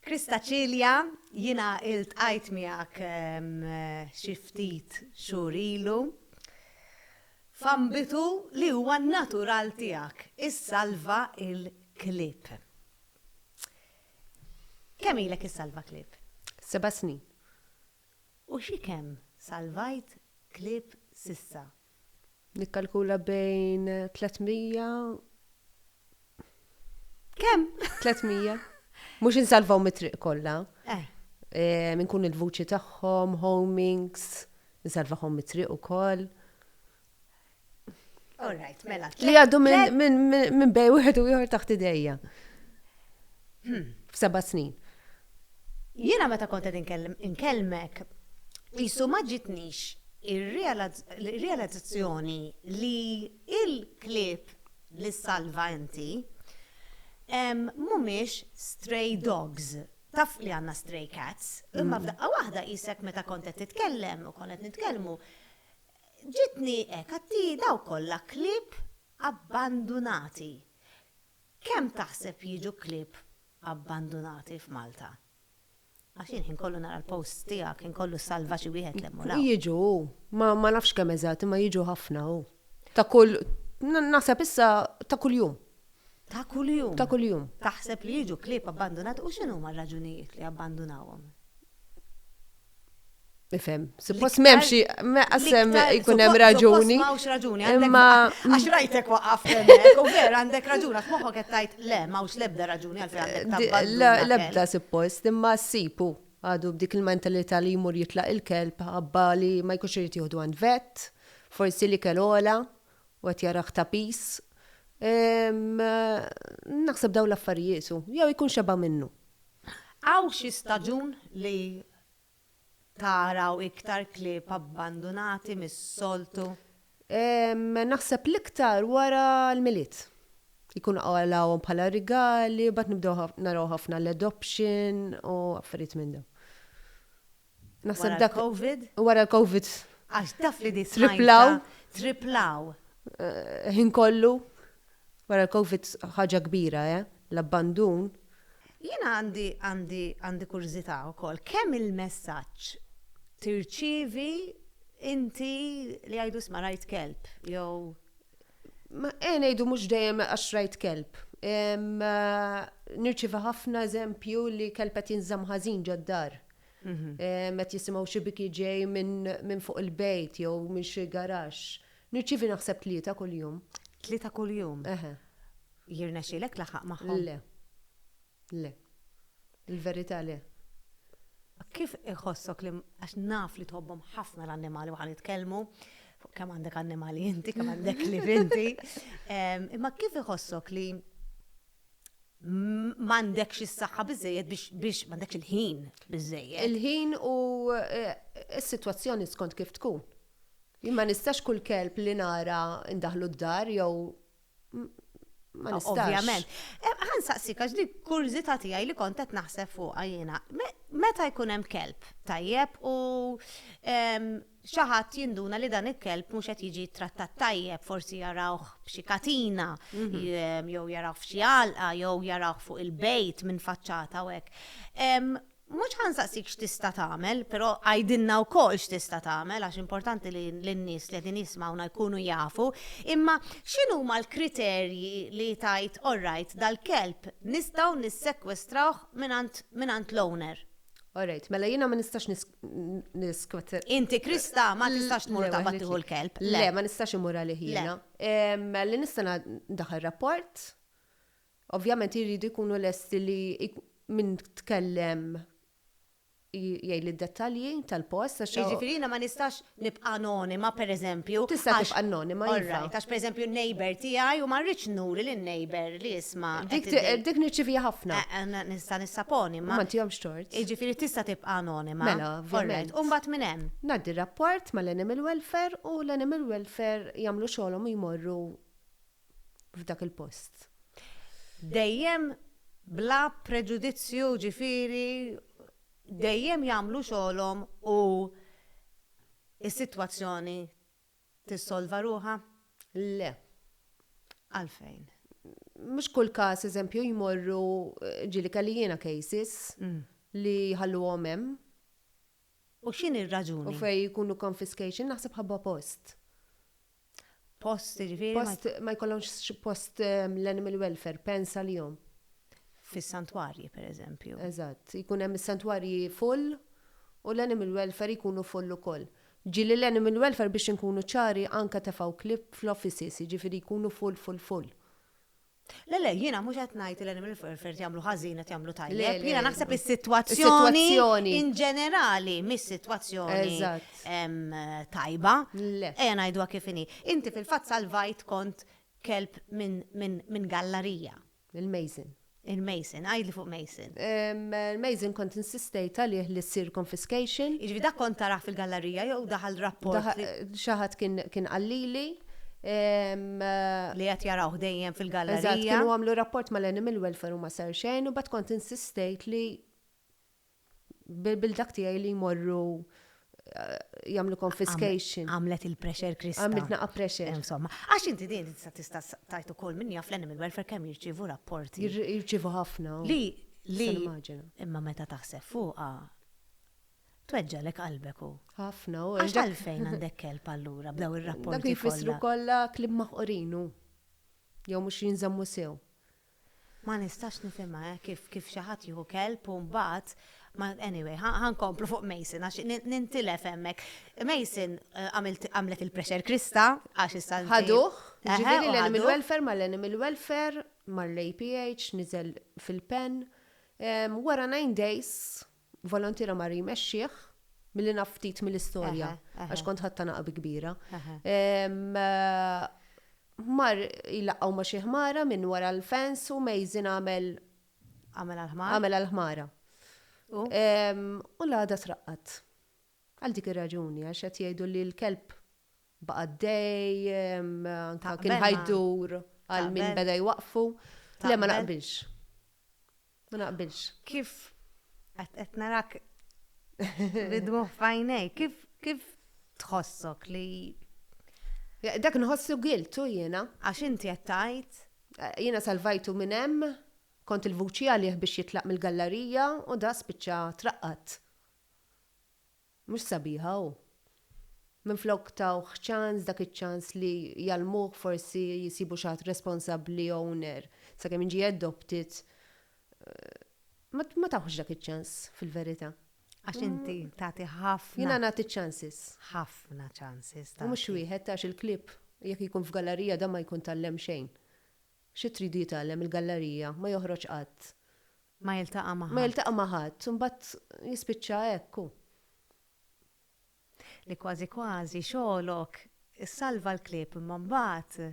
Krista Cilia, jiena iltqajt miegħek xi ftit xhur ilu f'ambitu li huwa natural tiegħek, issalva l-klieb. Kemm ilek issalva klieb? Seba' snin. U xi kemm salvajt klieb s'issa? Nikkalkula bejn 300. Kemm? 300. Mhux insalvaw mit-triq kollha. Eh. Eh, minn kun il-vuċi tagħhom, homings, insalvahom mit-triq ukoll. All right, mela. Li għaddu minn bej wieħed u ieħor taħt idejja. Hmm. F'seba' snin. Jiena meta kont qed inkellmek qisu ma ġitnix ir-realizzazzjoni li l-klieb li ssalva inti mhumiex stray dogs. Taf li għandna stray cats, imma f'daqqa waħda qisek meta kont qed titkellem u konna qed nitkellmu ġietni hekk għattii dawk kollha klieb abbandunati. Kemm taħseb jiġu klieb abbandunati f'Malta. Għax jien ħin kollu nara l-posts tiegħek, ħin kollu ssalva xi wieħed l-hemm u l-hawn. Jiġu, ma ma nafx kemm eżatt, imma jiġu ħafna, u. Ta' kull, naħseb issa ta' kuljum. Ta' kuljum? Ta' kuljum. Taħseb li jiġu klieb abbandunati u x'inhuma r-raġunijiet li jabbandunawhom? Nifhem, suppost m'hemm xi qasem jkun hemm raġuni. M'hawnx raġuni, imma għax rajtek waqaf u vera għandek raġuna f'moħħok qed tgħid le m'hawnx l-ebda raġuni għal fejn L-ebda suppost, imma ssipu għadu b'dik il-mentalità li jmur jitlaq il-kelb ħabba li ma jkunx irid jieħdu għand vet, forsi li kellu għola, u qed jarah ta' piż. Naħseb dawn l-affarijiet hu, jew ikun xeba' minnu. Hawn xi staġun li taraw iktar klieb abbandunati mis-soltu? Naħseb l-iktar wara l-Milied. Ikunu qalgħuhom bħala rigali, mbagħad nibdew naraw ħafna l-adoption u affarijiet minn dawn. Naħseb dak. Wara l-Covid? Wara l-Covid. Għax taf li di smajtha. Triplaw. Triplaw. Ħin kollu. Wara l-Covid ħaġa kbira, eh? L-abbandun. Jiena għandi għandi għandi kurżità wkoll. Kemm il-messaġġ tirċievi inti li jgħidu sma rajt kelb jew Ma eh ngħidu mhux dejjem għax rajt kelb. Em, eh, Nirċiva ħafna eżempju li kelb qed jinżamm ħażin ġod-dar. Met jisimgħu xi biki ġej minn fuq il-bejt jew minn xi garax. Nirċivi naħseb tlieta kuljum. Tlieta kuljum? Eħe. Jirnexxilek tlaħħaq magħhom? Le. Le. Il-verità le. Kif iħossok li għax naf li tħobbhom ħafna l-annimali waħan jitkellmu, kemm għandek annimali inti, kemm għandek li inti. Imma kif iħossok li m'għandekx is-saħħa biżejjed biex biex m'għandekx il-ħin biżejjed. Il-ħin u eh, s-sitwazzjoni skont kif tkun. Jien ma nistax kull kelb li nara ndaħlu d-dar jew m- ma nistax. Ovvjament. Eh, Ħan saqsik għax dik kurżità tiegħi li kont qed naħseb fuqha jiena. Me- Meta jkun hemm kelb tajjeb u em, xi ħadd jinduna li dan il-kelb mhux qed jiġi ttrattat tajjeb, forsi jarawh b'xi katina, mhm. jew jarawh f'xi għalqa, jew jarawh fuq il-bejt minn faċċata u hekk. Mhux ħansaqsik x'tista' tagħmel, però għajdilna wkoll x'tista' tagħmel għax importanti li n-nies li qegħdin jismawna jkunu jafu, imma x'inhuma l-kriterji li tajt orrajt dal-kelb nistgħu nissekwestrawh mingħand l-owner. Alright, mela jiena ma nistax Niskot. Inti Krista ma tistax tmur ta' battiħu l-kelb. Le, ma nistax imur għalih jiena. Li nistana daħal rapport, ovvjament jiridu jkunu lesti li minn tkellem jgħid d-dettalji tal-post. Jiġifieri jiena ma nistax Nibqa' anonima, pereżempju, għax. Tista' tibqa' anonima, iva. Orrajt, għax pereżempju n-neighbour tiegħi u ma rridx nuri lin-neighbour li isma'. Dik nirċiviha ħafna. Nista' nissaponi, imma. Ma ntihomx tort. Jiġifieri tista' tibqa' anonima. Mela, ovvjament. Orrajt, u mbagħad minn hemm? Ngħaddi rapport mal-animal welfare u l-animal welfare jagħmlu xogħolhom u jmorru f'dak il-post. Dejjem bla preġudizzju ġifieri dejjem jagħmlu xogħolhom u s-sitwazzjoni tissolva ruħha? Le. Għalfejn? Mhux kull każ eżempju jmorru ġieli kelli jiena cases li jħalluhom hemm. U x'inhi r-raġuni? U fejn ikunu confiscation naħseb ħabba post. Post, ġifieri. Post ma jkollhomx post ehm, l-animal welfare, pens għalihom. Fis-santwarji, pereżempju. Eżatt, jkun hemm is-santwarji full u l-animal welfare jkunu full ukoll. Ġieli l-animal welfare biex inkunu ċari anke tefgħu klieb fl-offices, jiġifieri jkunu full, full, full. Le, le, jiena mhux qed ngħid li l-animal welfare qed jagħmlu ħażin qed jagħmlu tajjeb. Jiena naħseb is-sitwazzjoni in ġenerali mhix sitwazzjoni tajba. Ejja ngħiduha kif inhi. Inti fil-fatt salvajt kont kelb minn gallarija. Il-Mason. Il-Mason, għidli fuq Mason. L-Amazing kont insistejt għalih li ssir confiscation. Jiġifieri dak kont tarah fil-gallerija jew daħal rapport li. Xi ħadd kien qal lili. Li qed jarawh dejjem fil-gallerija. Eżatt, kienu għamlu rapport mal-Animal Welfare u ma sar xejn u mbagħad kont insistejt li bil-dak tiegħi li jmorru jagħmlu confiscation. Għamlet il-pressure Krista. Għamiltna qa pressure. Eh, insomma, għax inti din tista' tajt ukoll minn jaf l-animal welfare kemm jirċievu rapporti. Jirċievu ħafna. Oh. Li li imma meta taħseb fuqha tweġġalek qalbek u. Ħafna u. Għax għalfejn għandek kelb allura b'daw ir-rapporti. Dak jfissru kollha klib maħqorinu. Jew mhux jinżammu sew. Ma nistax nifhimha eh kif kif xi ħadd jieħu kelb u mbagħad ma anyway ħa ħa nkomplu fuq Mason għax ni nintilef hemmhekk. Mason għamilt għamlet il-pressure krista għax issa inti Ħaduh, Eħe, jiġifieri u l-animal ħaduh. welfare mal-animal welfare, mar-APH, niżel fil-pen. Wara nine days Volontiera mar jmexxih, milli naf ftit mill-istorja, għax kont ħadtha naqab kbira. Mar jlaqqgħu ma' xi ħmara minn wara l-fence u Mason għamel. Għamel għall-ħmara. Għamel għall-ħmara. U? U l-għada traqqad. Għal dik ir-raġuni, għax qed jgħidu li l-kelb baqa' għaddej, anke kien ħa jdur għal min beda jwaqqfu. Le ma naqbilx. Ma naqbilx. Kif qed narak bid-dmugħ f'għajnejk, kif tħossok li. Dak inħossu giltu jiena. Għax inti qed tgħid. Jiena salvajtu minn hemm, kont il-vuċi għalih biex jitlaq mill-gallarija u da spiċċa traqqad. Mhux sabiħa hu. Minflok tawh ċans, dak iċ-ċans li jgħallmuh forsi jsibu xi ħadd responsabbli owner, sakemm jiġi adopted, ma tawhx dak iċ-ċans fil-verità. Għax inti tagħti ħafna. Jiena nagħti ċ-chances. Ħafna ċansis tagħti. U mhux wieħed għax il-klieb jekk ikun f'gallarija dan ma jkun tgħallem xejn. Xi tridu jitgħallem il-gallarija, ma joħroġ qatt. Ma jiltaqa' ma' ħadd. Ma jiltaqa' ma' ħadd, imbagħad jispiċċa hekk hu. Li kważi kważi xogħlok issalva l-klieb imma mbagħad.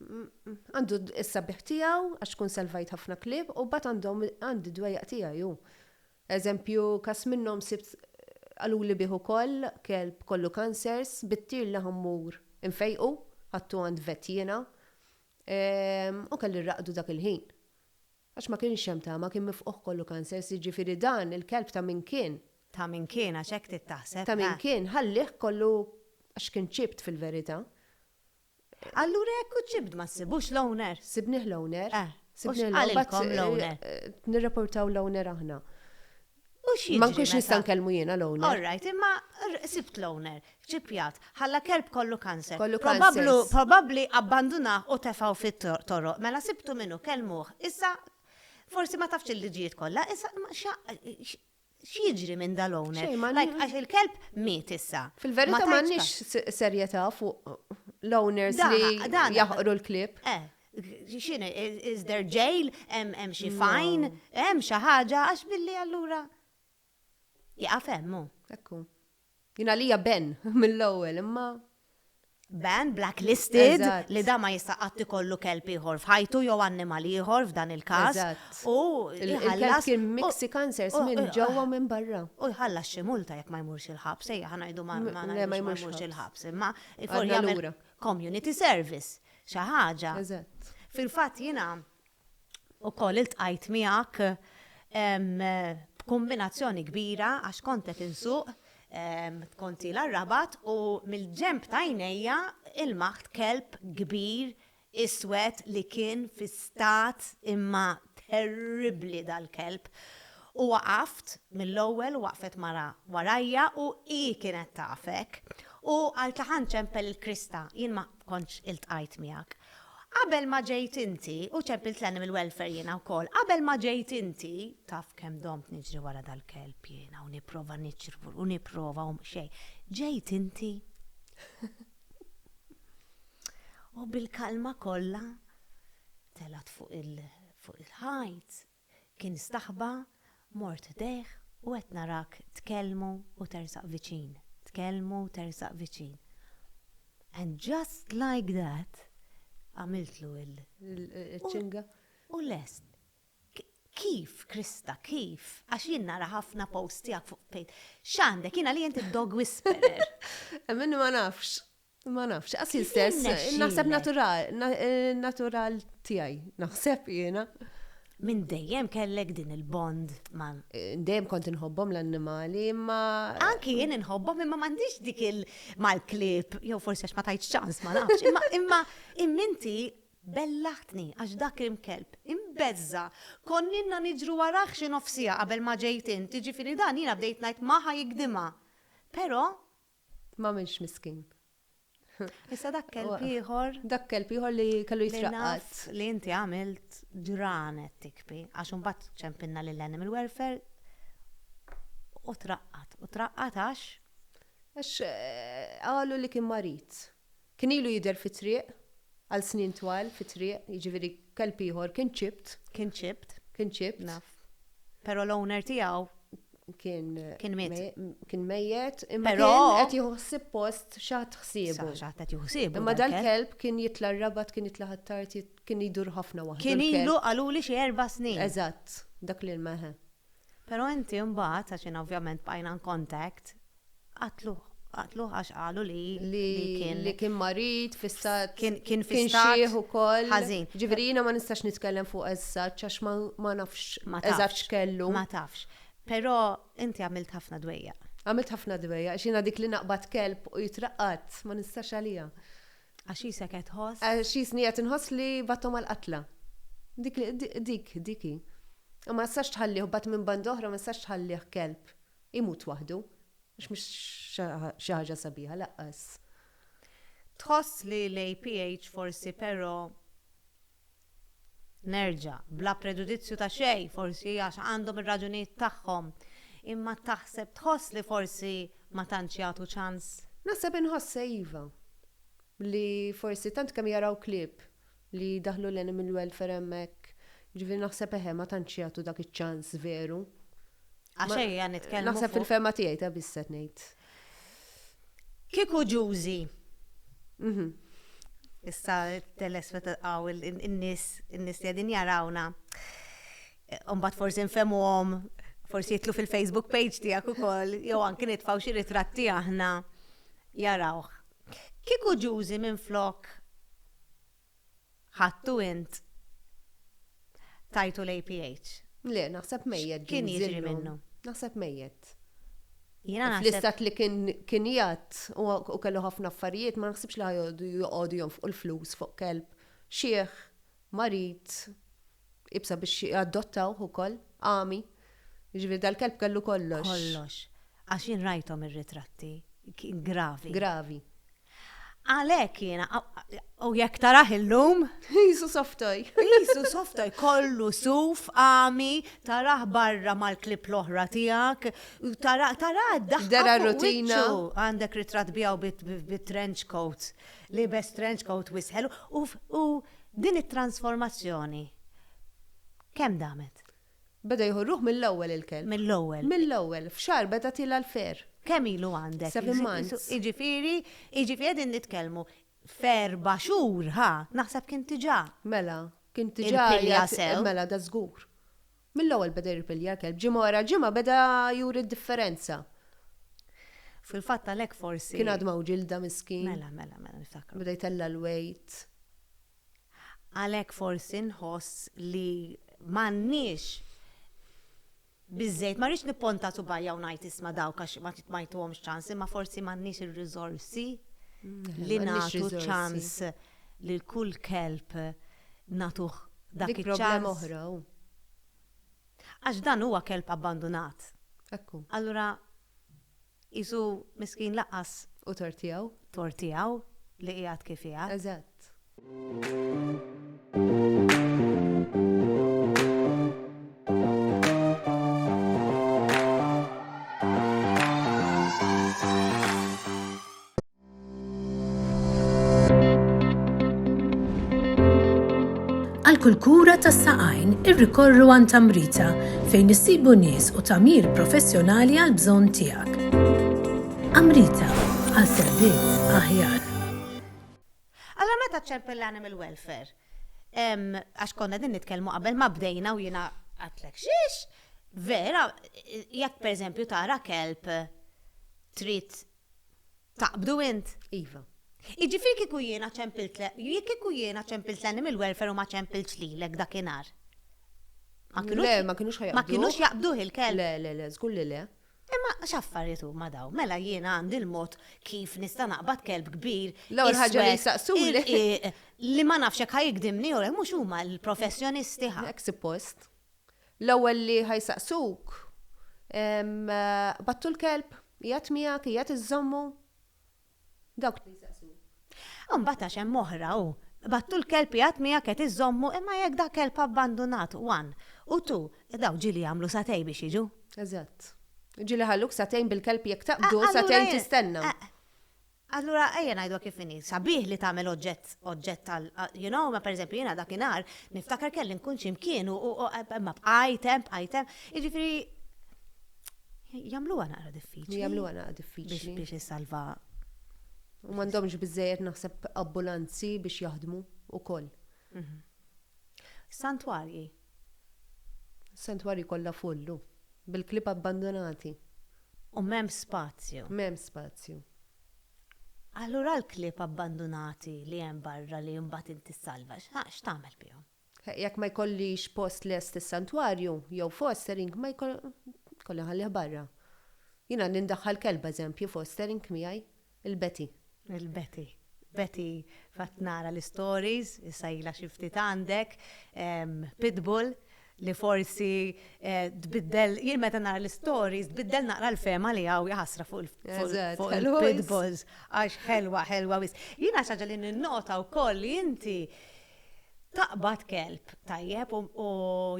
Għandu s-sabiħ tiegħu għax tkun salvajt ħafna klieb u mbagħad għandhom għandi d-dwejjaq tiegħi hu. Eżempju każ minnhom sibt qaluli bih ukoll kelb kollu kansers, bit-tir li ħa mmur infejqu, ħadtu għand vet jiena, U kelli rraqdu dak il-ħin. Għax ma kienx hemm tama, kien mifqugħ kollu kansers, jiġifieri dan il-kelb ta' min kien? Ta' min kien, għax hekk trid taħseb, eh! Ta' min kien, ħallih kollu għax kien chipped fil-verità. Allura jekk hu chipped ma ssibux l-owner? Sibnieh l-owner. Eh, u x'qalilkom l-owner? Nirreportaw l-owner aħna. Ma nkunx nista' nkellmu jiena l-owner. All right, imma sibt l-owner, ċipjat, ħalla kelb kollu kanser. Kollu kanser. Probabbli abbandunah u tefgħu fit-toroq. Mela sibtu min hu, kellmuh. Issa forsi ma tafx il-liġijiet kollha, issa x'jiġri minn dal-owner? Għax il-kelb miet issa. Fil-verità m'għandniex serjetà fuq l-owners li jaħqru l-klieb. X'inhi, is der jail, hemm xi fajn, hemm xi ħaġa għax billi allura jaqaf hemm hu. Ekku. Jien għalija ben mill-ewwel imma Ben blacklisted li da ma jista' qatt ikollu kelb ieħor f'ħajtu jew annimal ieħor f'dan il-każ. U il-kelb kien mixi cancers minn ġewwa u minn barra. U jħallas xi multa jekk ma jmurx il-ħabs, ejja ħa ngħidu ma jmurx il-ħabs imma jmur jagħmel community service. xi ħaġa. Fil-fatt jiena wkoll iltqajt miegħek b'kumbinazzjoni kbira għax kont qed insuq konti l-rabat u mill-ġemp ta' jnejja il-maħt kelb kbir iswed li kien fi stat imma terribli dal-kelb. U waqaft mill-ewwel waqfet mara warajja u hi kienet tafek. U qaltli ħa nċempel il-krista, jien ma kontx iltqajt miegħek. Qabel ma ġejt inti, u ċempilt l-animal welfare jiena wkoll, qabel ma ġejt inti, taf kemm domt niġri wara dal-kelb jiena u nipprova niċrvu u nipprova u xejn. Ġejt inti. U bil-kalma kollha telgħet fuq il-ħajt Kien staħba, mort ħdejh u qed narak tkellmu u tersaq viċin, tkellmu u tersaq viċin. And just like that, għamiltlu l. Iċ-ċinga. U lest. Kif, Krista, kif? Għax jien nara ħafna posts tiegħek fuq fejs. X'għandek? Jien għalija inti d-dog whisperer. Minni ma nafx. Ma nafx, għas jien stess, naħseb natural tijaj, naħseb jena. Minn dejjem kellek din il-bond ma. Eh, dejjem kont inħobbhom l-annimali, imma. Anki jien inħobbhom imma m'għandix dik il mal-klib, jew forsi għax ma tajt ċans ma nafx, imma imma imminti bellaħtni għax dak imkelb imbezza konninna niġru waraħ xi nofsija qabel ma ġejt inti ġifieri dan jiena bdejt ngħid maħa jikdima. Però M'għamilx miskin. Issa dak kelb ieħor. Dak kelb ieħor li kellu jitraqqat. Li inti għamilt ġranet tikbi, għax imbagħad ċempinna lil animal welfare u traqqat. U traqqat għax? Għax qalu li kien marid. Kien ilu jidher fit-triq, għal snin twal, fit-triq, jiġifieri kelb ieħor kien chipped. Kien chipped. Kien chipped. Naf. Però l-owner tiegħu kien kien miet. Kien mejjet, imma kien qed jieħu ħsieb post xi ħadd ħsiebu. Xi ħadd qed jieħu ħsiebu. Imma dal-kelb kien jitla' r-rabat, kien jitla' ħattart, kien idur ħafna waħdu. Kien ilu qaluli xi erba' snin. Eżatt, dak l-ilma, eħe. Pero inti mbagħad, għax jiena ovvjament bqajna in contact, qatluh. Qatluh għax qalu li kien. Li kien marid, fi stat. Kien fi stat. Kien xieħ ukoll. Ħażin. Ġifieri jiena ma nistax nitkellem fuq as such għax ma nafx eżatt x'kellu. Ma tafx. Pero inti għamilt ħafna dwejjaq. Għamilt ħafna dwejjaq, għax jiena dik li naqbad kelb u jitraqqad, ma nistax għaliha. Għax qisek qed tħoss. Għax qisni qed inħoss li bgħatthom għall-qatla. Dik li, dik, dik hi. U ma nistax tħallih, u mbagħad minn banda oħra ma nistax tħallih kelb imut waħdu. Għax mhux xi ħaġa sabiħa lanqas. Tħoss li l-APH forsi però Nerġa', bla preġudizzju ta' xejn, forsi għax għandhom ir-raġunijiet tagħhom, imma taħseb tħoss li forsi ma tantx jagħtu ċans? Naħseb inħossha iva. Li forsi tant kemm jaraw klieb li daħlu l-animal welfare hemmhekk, jiġifieri naħseb eħe ma tantx jagħtu dak iċ-ċans veru. Għax ejja nitkellmu. Naħseb fil-fema tiegħi ta' bisset ngħid. Kieku ġużi. Mhm. Issa teles meta tqaw in-nies in-nies li qegħdin jarawna. Umbat forsi nfemuhom, forsi jitlu fil-Facebook page tiegħek ukoll, jew anki nitfgħu xi ritratti aħna jarawh. Kieku ġużi minn flok Ħadtu int tajtu l-APH. Le, naħseb mejjet Kien Jim jiġri Zinno. minnu. Naħseb mejjet. Jiena naħseb Fl-istat li kien kien jgħadd u u kellu ħafna affarijiet ma naħsibx li ħajqogħdu joqogħdu jonfqu l-flus fuq kelb xiħ, marid, Iebsa biex adottawh ukoll. Għami. Jiġifieri dal-kelb kellu kollox. Kollox. Għax jien rajthom ir-ritratti. Gravi. Gravi. Għalhekk jiena, u jekk tarah illum. Qisu soft toy. Qisu soft toy, kollu suf, għami, tarah barra mal-klieb l-oħra tiegħek, tarah d-daħqa. Dera r-rutina. Għandek ritratt biegħu bi trench coat, liebes trench coat wisħel u Din it-transformazzjoni kemm damet? Beda jieħu r-ruħ mill-ewwel il-kelb. Mill-ewwel. Mill-ewwel, f'xahar beda tilgħa l-fer. Kemm ilu għandek? Seven months. Jiġifieri, jiġifieri qegħdin nitkellmu f'erba' xhur, ħa, naħseb kien diġà. Mela, kien diġà. Il-pilja sew. Mela, da żgur. Mill-ewwel beda jirpilja kelb, ġimgħa wara ġimgħa beda juri d-differenza. Fil-fatt għalhekk forsi. Kien għadma u ġilda miskin. Mela, mela, mela niftakru. Beda jtella' l-wejt. Għalhekk forsi nħoss li m'għandniex biżżejjed, ma rridx nipponta subajja u ngħid isma' dawk għax ma jtuhomx ċans, imma forsi m'għandniex ir-riżorsi li nagħtu ċans. Lil kull kelb nagħtuh dak iċ-ċans. Dik problema oħra, hu. Għax dan huwa kelb abbandunat. Hekk hu. Allura qisu miskin lanqas. Hu tort tiegħu. Tort tiegħu li qiegħed kif qiegħed. Eżatt. Għal kull kura tas saqajn irrikorru għan tamrita fejn issibu nies u tamir professjonali għal bżonn tiegħek. Amrita għal servizz aħjar. Alla meta ċempel l-animal welfare? Għax konna din nitkellmu qabel ma bdejna u jiena għatlek xiex, vera, jekk per eżempju tara kelb trid Taqbdu int? Iva. Jiġifieri kieku jiena ċempiltlek, jekk kieku jiena ċempilt l-animal welfare u ma ċempiltx lilek dakinhar. Ma kinux. Le, ma kinux ħajaqbduh. Ma kinux jaqbduh il-kelb. Le, le, le, żgur li le. Imma x'affarijiet huma dawn? Mela jiena għandi l-mod kif nista' naqbad kelb kbir. L-ewwel ħaġa li jistaqsuli. Li ma nafx jekk ħajikdimni jew le, mhux huma l-professjonisti ħa. Hekk suppost. L-ewwel li ħa jsaqsuk, Qbadtu l-kelb? Qiegħed miegħek? Qiegħed iżżommu? Dawk li jsaqsuk. Imbagħad għax hemm oħra hu, Qbadtu l-kelb? Qiegħed miegħek? Qiegħed iżżommu? Imma jekk da kelb abbandunat, one, u two, dawk ġieli jagħmlu sagħtej biex jiġu. Eżatt. Ġieli jħalluk sagħtejn bil-kelb jekk taqbdu, sagħtejn tistenna. Allura ejja ngħiduha kif inhi, sabiħ li tagħmel oġġett oġġett tal you know, imma pereżempju jiena dakinhar niftakar kelli nkun xi mkien u imma bqajt hemm bqajt hemm, jiġifieri jagħmluha naqra diffiċli. Jagħmluha naqra diffiċli. Biex issalva. U m'għandhomx biżejjed naħseb abbulanzi biex jaħdmu wkoll. Santwarji. Is-santwarji kollha full, u. Bil-klieb abbandunati. U m'hemm spazju. M'hemm spazju. Allura l-klieb abbandunati li hemm barra li mbagħad inti ssalva, x'tagħmel bihom? Jekk ma jkollix post lest is-santwarju, jew fostering, ma jkolli nħallih barra. Jiena nindaħħal kelb, eżempju, fostering miegħi. Il-Betty. Il-Betty. Betty fatt nara l-istories, issa ilha xi ftit għandek, pitbull li forsi tbiddel, jien meta nara l-istories tbiddel naqra l-fehma li hawn jaħasra fuq il-pitbulls għax ħelwa ħelwa wisq. Jiena xi ħaġa li ninnota wkoll li inti taqbad kelb tajjeb u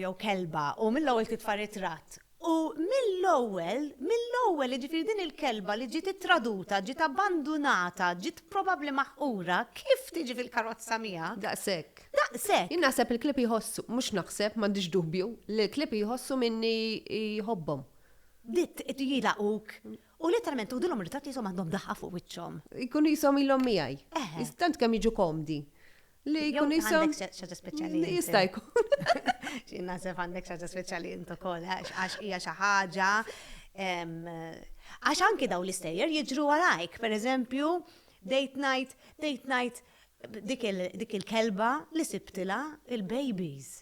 jew kelba u mill-ewwel titfa' ritratt U mill-ewwel, mill-ewwel, jiġifieri din il-kelba li ġiet ittraduta, ġiet abbandunata, ġiet probabbli maħqura, kif tiġi fil-karozza miegħek? Daqshekk. Daqshekk. Jien naħseb il-klieb jħossu, mhux naħseb, m'għandix dubju, li l-klieb jħossu minni jħobbhom. Bdiet jilagħquk U letteralment tuħdilhom ir-ritratt qishom għandhom daħqa fuq wiċċhom. Jkunu qishom ilhom miegħi. Eħe. Tant kemm jiġu komdi. Li jkun qishom. Jew għandek xi ħaġa speċjali. Jista' jkun. Xi naħseb għandek xi ħaġa speċjali int ukoll għax hija xi ħaġa Għax anki daw l-istejjer jiġru għalajk, per eżempju, date night, date night, dik il-kelba li sibtila il-babies.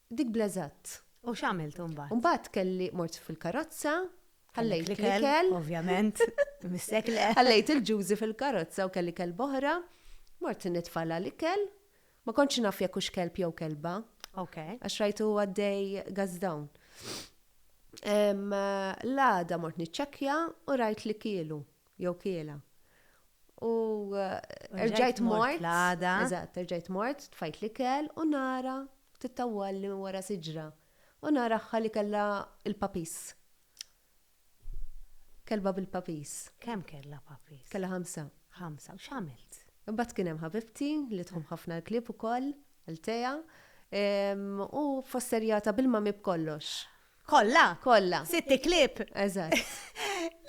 Dik bl-eżatt. U x'għamilt imbagħad? Imbagħad kelli mort fil-karozza, ħallejt l-ikel. Ovvjament, missek le. Ħallejt il-ġużi fil-karozza u kelli kelba oħra, mort nitfagħlha l-ikel, ma kontx naf jekk hux kelb jew kelba. Ok. Għax rajtu għaddej gas down. L-għada mort niċċekkja u rajt li kielu. jew kiela. U rġajt mort. Eżatt, rġajt mort, tfajt l-ikel u nara tittawwal minn wara siġra. U nara ħħa li kellha l-puppies. Kelba bil-puppies. Kemm kellha puppies? Kellha ħamsa. Ħamsa, u x'għamilt? Imbagħad kien hemm ħabibti li tħobb ħafna l-klieb ukoll, Althea, u fosserjatha bil-mami b'kollox. Kolla? Kolla. Sitti klib? Eżat.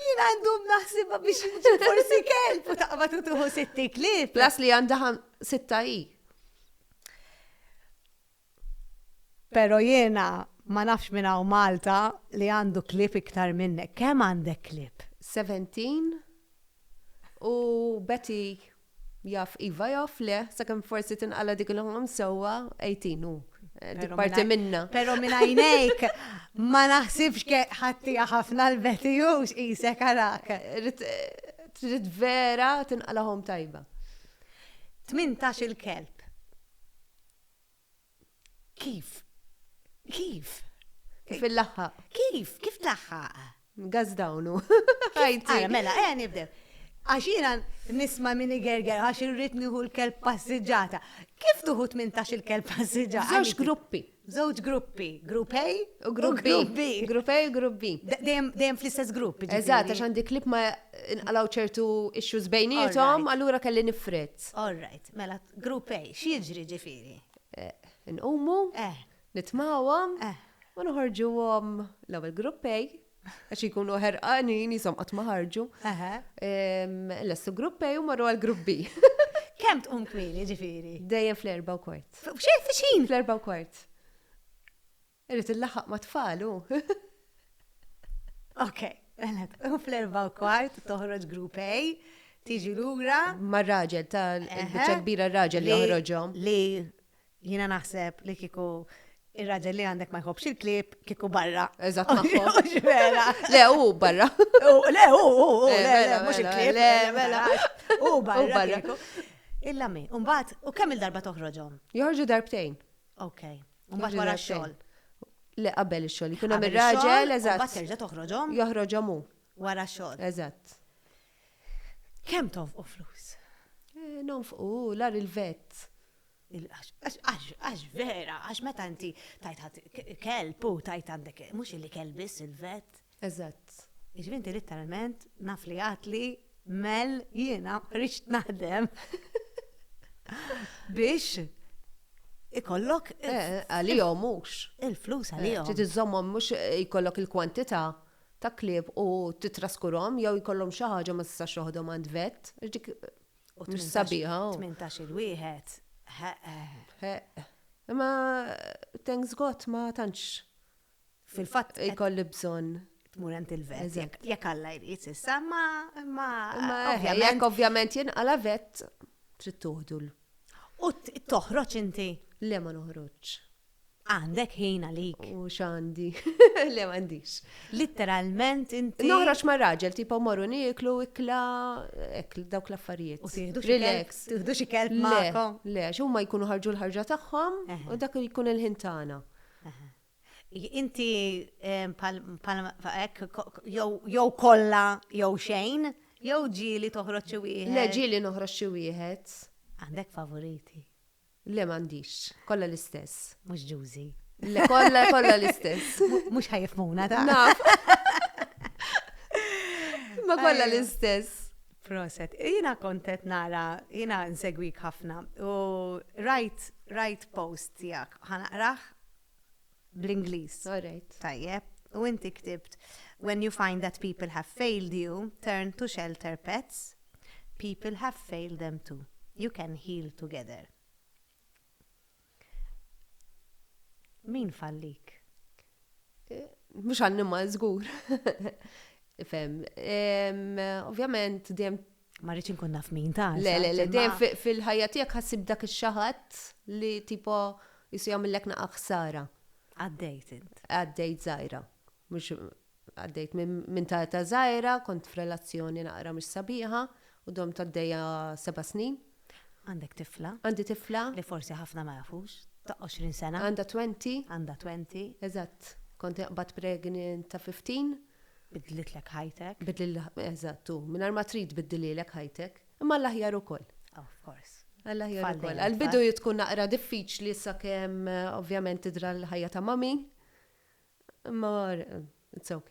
Jien għandhom naħsibha biex nġib forsi kelb u taqbad u tuħu sitti klib. Plas li għandha sitta i. Pero jiena ma nafx minn hawn Malta li għandu klib iktar minnek. Kemm għandek klib? 17 u Betty Jaf iva jaf le, sakemm forsi tinqala' dik il-ħolm sewwa, 18 hu. Dik parti minnha. Però minn għajnejk ma naħsibx ke ħaddtieha ħafna l-Betty Hughes qisek arak. Trid vera tinqala' ħolm tajba. Tmintax-il kelb. Kif? Kif? Kif il-laħħaq? Kif? Kif laħħaq? Gaz dawnu. Għajti. Mela, għan nibdew. Għax jina nisma minni gerger, għax irrit nieħu l-kelb passiġġata. Kif tuħu 18 il-kelb passiġġata? Żewġ gruppi. Żewġ gruppi. Grupp A u grupp B. Grupp A u grupp B. Dejjem fl-istess grupp. Eżatt, għax għandi klip ma nqalaw ċertu issues bejnietom, allura kelli nifret. All right, mela Grupp A, x'jiġri ġifieri? Inqumu, nitmawhom u noħorġuhom l-ewwel grupp A għax ikunu ħerqanin jisom qatt ma ħarġu. Lestu grupp A u marru għal grupp B. Kemm tqum kmieni ġifieri? Dejjem fl-erba' u kwart. F'xejn f'xin? Fl-erba' u kwart. Irid illaħħaq ma' tfal hu. Ok, mela, u fl-erba' u kwart toħroġ group A, tiġi lura. Ma' raġel ta' biċċa kbira raġel li joħroġhom. Li jiena naħseb li kieku ir-raġel li għandek ma jħobbx il-klieb kieku barra. Eżatt magħhom. Vera. Le hu barra. Le hu hu hu le le mhux il-klieb. Le mela. Hu barra. Hu barra. Illa mi. Mbagħad u kemm il-darba toħroġhom? Joħorġu darbtejn. Ok. Mbagħad wara x-xogħol. Le qabel ix-xogħol. Jkun hemm ir-raġel, eżatt. Mbagħad terġa' toħroġhom. Joħroġhom hu. Wara x-xogħol. Eżatt. Kemm tonfqu flus? Eh, nonfqu, lar il-vet. Għax vera, għax meta inti tajt kelb u tajt għandek, mhux illi kelb biss il-vet. Eżatt. Jiġifieri inti litteralment naf li għadt li Mel jiena ridt naħdem biex ikollok għalihom mhux. Il-flus għalihom. Trid iżżommhom mhux jkollok il-kwantità ta' klieb u titraskurhom jew jkollhom xi ħaġa ma tistax toħodhom għand vet. Għax dik mhux sabiħa. Tmintax-il wieħed. Ħeqq. Ħeqq. Imma thanks God ma tantx Fil-fatt ikolli bżonn tmur għand il-vet. Jekk Alla jrid issa, ma ma eh, jekk ovvjament jinqala vet trid tuħdu l. U toħroġ inti? Le ma noħroġ. Għandek ħin għalik. U x'għandi? Le m'għandix. Litteralment inti. Noħroġ ma' raġel tipo morru nieklu ikla ekl dawk l-affarijiet. U tieħdu relax. Tieħdu xi kelb magħkom. Le, x'huma jkunu ħarġu l-ħarġa tagħhom u dak jkun il-ħin tagħna. Inti bħal hekk jew kollha jew xejn, jew ġieli toħroġ xi wieħed? Le ġieli noħroġ xi wieħed. Għandek favoriti? Le m'għandix, kollha l-istess. Mhux ġużi? Le kollha kollha l-istess. Mhux ħajjef Muna ta'. Naf. Imma kollha l-istess. Proset. Jiena kont qed nara, jiena nsegwik ħafna u rajt rajt post tiegħek. Ħa naqrah bl-Ingliż. All right. Tajjeb. U inti ktibt, When you find that people have failed you, turn to shelter pets, people have failed them too. You can heal together. Min fallik? Mhux annimal żgur. Fem. Ovvjament dejjem ma rridx inkun naf min ta' Le, le, le, dejjem fil-ħajja tiegħek ħassib dak ix-xaħat li tipo jisu jagħmillek naqa' ħsara. Għaddejt int. Għaddejt żgħira. Mhux għaddejt minn ta' età żgħira, kont f'relazzjoni naqra mhux sabiħa u domt għaddejja seba' snin. Għandek tifla. Għandi tifla. Li forsi ħafna ma jafux. Ta' għoxrin sena. Għandha twenty. Għandha twenty. Eżatt. Kont inqbad pregnant ta' fifteen. Bidlitlek ħajtek. Bidlitlek, eżatt, u mingħajr ma trid tbiddililek ħajtek. Imma għall-aħjar ukoll. Of course. Għall-aħjar ukoll. Tfal dejjem. Għall-bidu tkun naqra diffiċli sakemm ovvjament tidhra l-ħajja ta' mommy. Imma it's ok.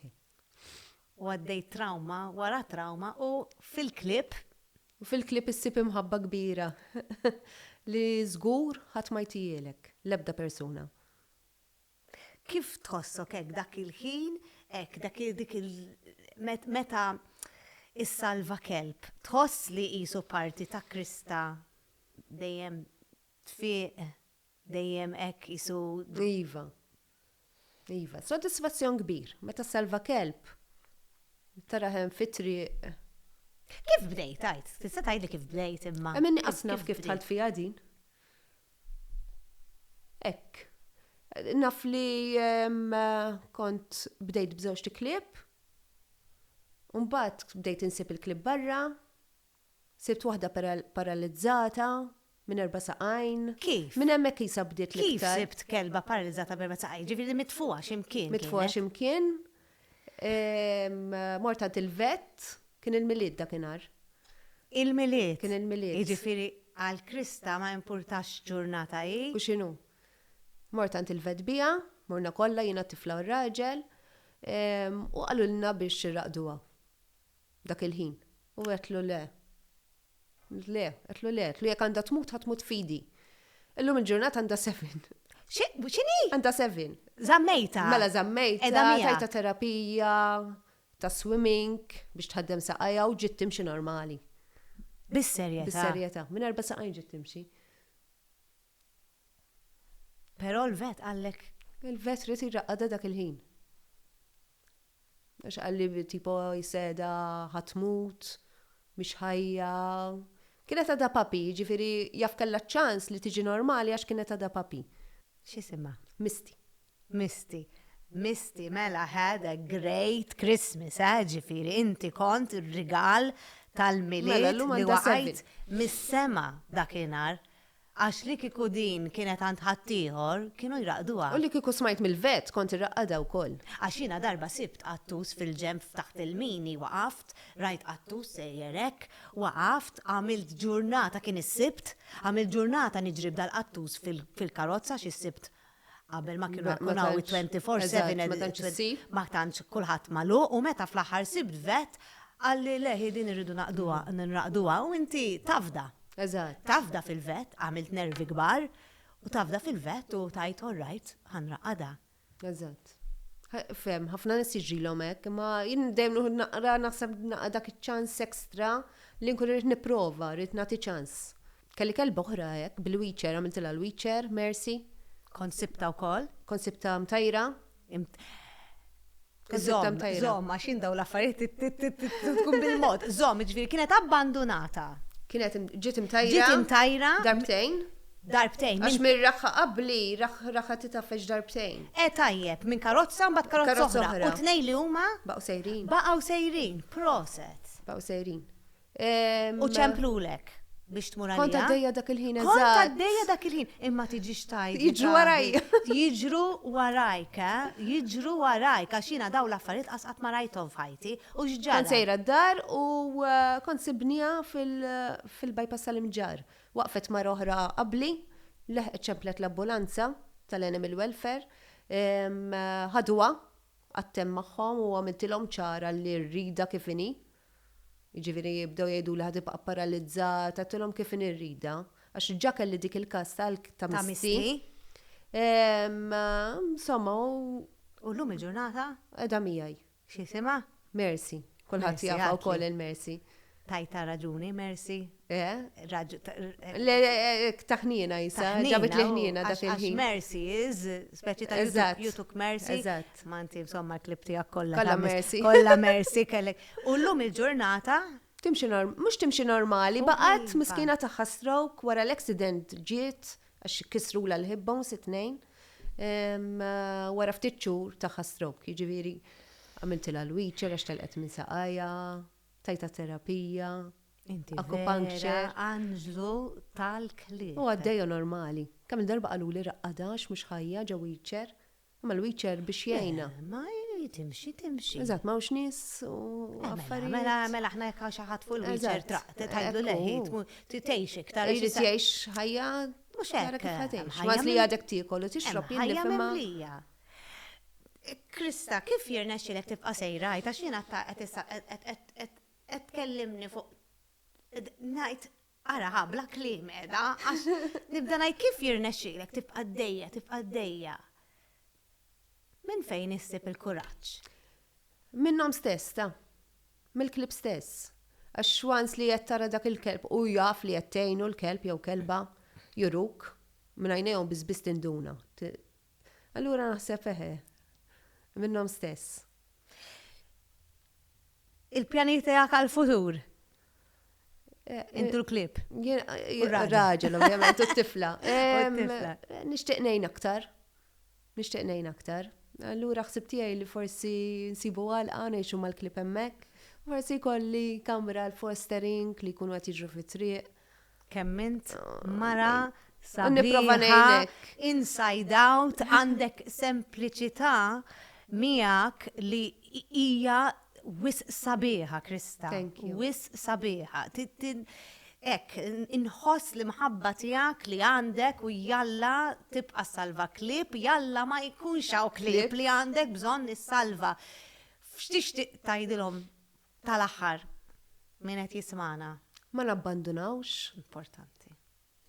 U għaddejt trawma wara trawma u fil-clip. U fil-clip issib imħabba kbira li żgur ħadd ma jtihielek, l-ebda persuna. Kif tħossok hekk dak il-ħin, hekk dak dik il meta issalva kelb, tħoss li qisu parti ta' Krista dejjem tfieq Dejjem hekk qisu d-. Iva. Iva. Sodisfazzjon kbir meta ssalva kelb. Tara hemm fit-triq. Kif bdejt għid? Tista' tgħidli kif bdejt imma. Hemm inqas naf kif dħalt fiha din. Hekk. Naf li kont bdejt b'żewġt iklieb. U mbagħad bdejt insib il-klieb barra. Sibt waħda paralizzata, minn erba' saqajn. Kif? Minn hemmhekk qisha bdiet l-iktar. Kif sibt kelba paralizzata b'erba' saqajn? Jiġifieri mitfugħa xi mkien kienet? Mitfugħa xi mkien. Mort għand il-vet. Kien il-Milied dakinhar. Il-Milied? Kien il-Milied. Jiġifieri għal Krista ma jimpurtax x'ġurnata hi? U x'inhu. Mort għand il-vet biha, morna kollha, jiena t-tifla u r-raġel, u qalulna biex irraqduha. dak il-ħin. U għedtlu le. Le, għedtlu le, għedtlu jekk għandha tmut ħa tmut f'idi. Illum il-ġurnata għandha seven. X'inhi? Għandha seven. Żammejtha. Mela żammejtha. Qiegħda miegħek. Tajtha terapija ta' swimming biex tħaddem saqajha u ġiet timxi normali. Bis-serjetà. Bis-serjetà. Minn erba' saqajn ġiet timxi. Però l-vet qallek. Il-vet ried jraqqadha dak il-ħin. Għax qalli tipo jisseda ħa tmut, mhix ħajja. Kienet għadha puppy, jiġifieri jaf kellha ċ-ċans li tiġi normali għax kienet għadha puppy. X'isimha? Misty. Misty. Misty mela had a great Christmas, eh, jiġifieri inti kont ir-rigal tal-Milied li waqajt mis-sema dakinhar. Għax li kieku din kienet għand ħaddieħor, kienu jraqqduha. U li kieku smajt mill-vett, kont irraqqadha wkoll. Għax jiena darba sibt qattus fil-ġenb f'taħt il-mini, waqaft, rajt qattus sejjer hekk, waqaft, għamilt ġurnata, kien is-Sibt, għamilt ġurnata niġri b'dal-qattus fil-karozza għax is-Sibt Qabel ma kienu jkun hawn 24/7 ma tantx kulħadd magħluq u meta fl-aħħar sibt vet qalli le hi din irridu naqduha nraqduha u inti tafda. Tafda fil-vet, għamilt nervi kbar u tafda fil-vet u tgħid all right ħa nraqadha. Eżatt. Fhem, ħafna nies jiġrilhom hekk, imma jien dejjem nieħu naqra naħseb naqra dak iċ-ċans extra li nkun irrid nipprova, rrid nagħti ċans. Kelli kelba oħra hekk, bil-wheelchair, għamiltilha l-wheelchair, Mercy. Kont sibtha wkoll. Kont sibtha mtajra. Kont sibtha mtajra. Żomm, għax jien dawn l-affarijiet tkun bil-mod. Żomm, jiġifieri kienet abbandunata. Kienet ġiet imtajra. Ġiet imtajra. Darbtejn. Darbtejn. Għax minn raħħa qabli, raħħa titgħaffeġ darbtejn. Eh tajjeb, minn karozza mbagħad karozza oħra. U tnejn li huma? Baqgħu sejrin. Baqgħu sejrin. Proset. Baqgħu sejrin. U ċemplulek biex tmur għalija. Kont għaddejja dak il-ħin eżatt. Kont għaddejja dak il-ħin, imma tiġix tajt. Jiġru warajja. Jiġru warajk, jiġru warajk, għax jiena daw l-affarijiet qas qatt ma rajthom f'ħajti. U x'ġara? Kont sejra d-dar u kont sibniha fil-bypass tal-imġarr. Waqfet mara oħra qabli, leħqet ċemplet l-ambulanza tal-Animal Welfare, ħaduha, qgħadt hemm magħhom u għamiltilhom ċara li r-rida kif inhi. Jiġifieri bdew jgħiduli ħa tibqa' pparalizzata, għedtilhom kif inhi rridha, għax ġa kelli dik il-każ ta' ta' misti. Insomma u. U llum il-ġurnata? Qiegħda miegħi. X'isimha? Mercy. Kulħadd jafha wkoll il-Mercy. Tajtha raġuni, Mercy. Eh, raġu. Le, taħnina jisa, ġabit li ħnina dak il-ħin. Mercy is, speċi ta' Eżatt. you took mercy. Eżatt. Ma inti insomma l-klib tiegħek kollha. Kollha ta' mis- mercy. Kollha mercy kellek. U llum il-ġurnata Timxi norm, mhux timxi normali, U baqgħet iva. miskina tagħha stroke wara l-accident ġiet għax kisrula l-hip bones it-tnejn. Em, eh, Wara ftit xhur tagħha stroke, jiġifieri għamiltilha l-wheelchair għax telqet minn saqajja, tajta terapija, Inti akupankċer. Vera anġlu tal-klieb. U għaddejja normali. Kemm il-darba qaluli raqqadha għax mhux ħajja ġew wheelchair. Imma l-wheelchair biex jgħinha. Le, ma hi timxi timxi. Eżatt, m'hawnx nies u affarijiet. Mela, mela aħna jekk hawn xi ħadd fuq il-wheelchair traqt, tgħidlu le hi tgħix iktar. Hi trid tgħix ħajja. Mhux hekk. Tara kif ħa tgħix. Kważi li għadek tiekol u tixrob jien nifhimha. Ħajja mimlija. Krista, kif jirnexxielek tibqa' sejra hi? Għax jiena qed Qed tkellimni fuq ngħid ara ħa bla kliem qiegħda għax nibda ngħid kif jirnexxilek tibqa' dejja, tibqa' dejja. Minn fejn issib il-kuraġġ? Minnhom stess ta. Mill-klieb stess. Għax once li qed tara dak il-kelb u jaf li qed tgħinu l-kelb jew kelba juruk, minn għajnejhom biss biss tinduna. Allura naħseb eħe. Minnhom stess. Il-pjanijiet tiegħek għall-futur? Intu l-klib. Raġel, ovvjament, u t-tifla. Nixtieq ngħin aktar. Nixtieq ngħin aktar. Allura ħsib tiegħi li forsi nsibu għalqa ngħixu mal-klib hemmhekk. Forsi jkolli kamra l-fostering li jkunu qed jiġru fit-triq. Kemm int mara sabiħa, inside out, għandek sempliċità miegħek li hija wis sabiħa, Krista. Wis sabiħa. Ek, inħoss l-imħabba tijak li għandek u jalla tibqa salva klib, jalla ma jkunx għaw klib li għandek bżon nissalva. F'xtixtiq tajdilom Tal-aħħar, min qed jismagħna. Ma nabbandunawx. Importanti.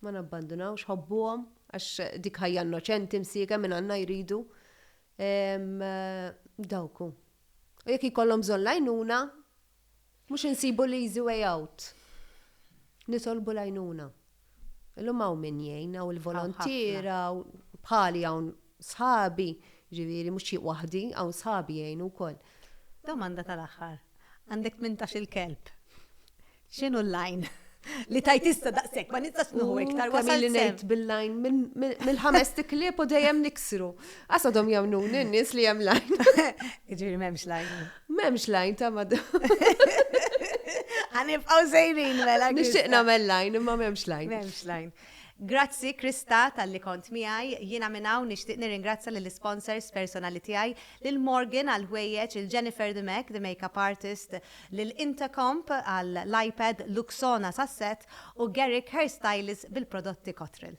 Ma nabbandunawx, ħobbuhom, għax dik ħajja innoċenti msiegħa minn Alla jridu. Dawk hu. U jekk jkollhom bżonn l-għajnuna, mhux insibu l-easy way out. Nitolbu l-għajnuna. Illum hawn min jgħin, hawn il-volontier, hawn bħali hawn sħabi, ġifieri mhux xi waħdi, hawn sħabi jgħinu wkoll. Domanda tal-aħħar. Għandek tmintax-il kelb. X'inhu l-lajn? Li tajt issa daqshekk, ma nistax nieħu iktar wasal li ngħid bil-lajn mill-ħames tiklieb u dejjem niksru. Għasadhom jemnuni n-nies li hemm lajn. Ġifieri m'hemmx lajn. M'hemmx lajn ta' madam. Għanibqaw sejrin mela. Nixtieq nagħmel lajn imma m'hemmx lajn. M'hemmx lajn. Grazzi Krista tal-li kont miegħi, jiena minn hawn nixtieq nirringrazzja lill-isponsors personali tiegħi, lil Morgan għall-ħwejjeġ, lil Jennifer the Mac, the makeup artist, lil Intercomp għall-iPad, Luxona sas-set u Garrick Hairstylist bil-prodotti Cottrell.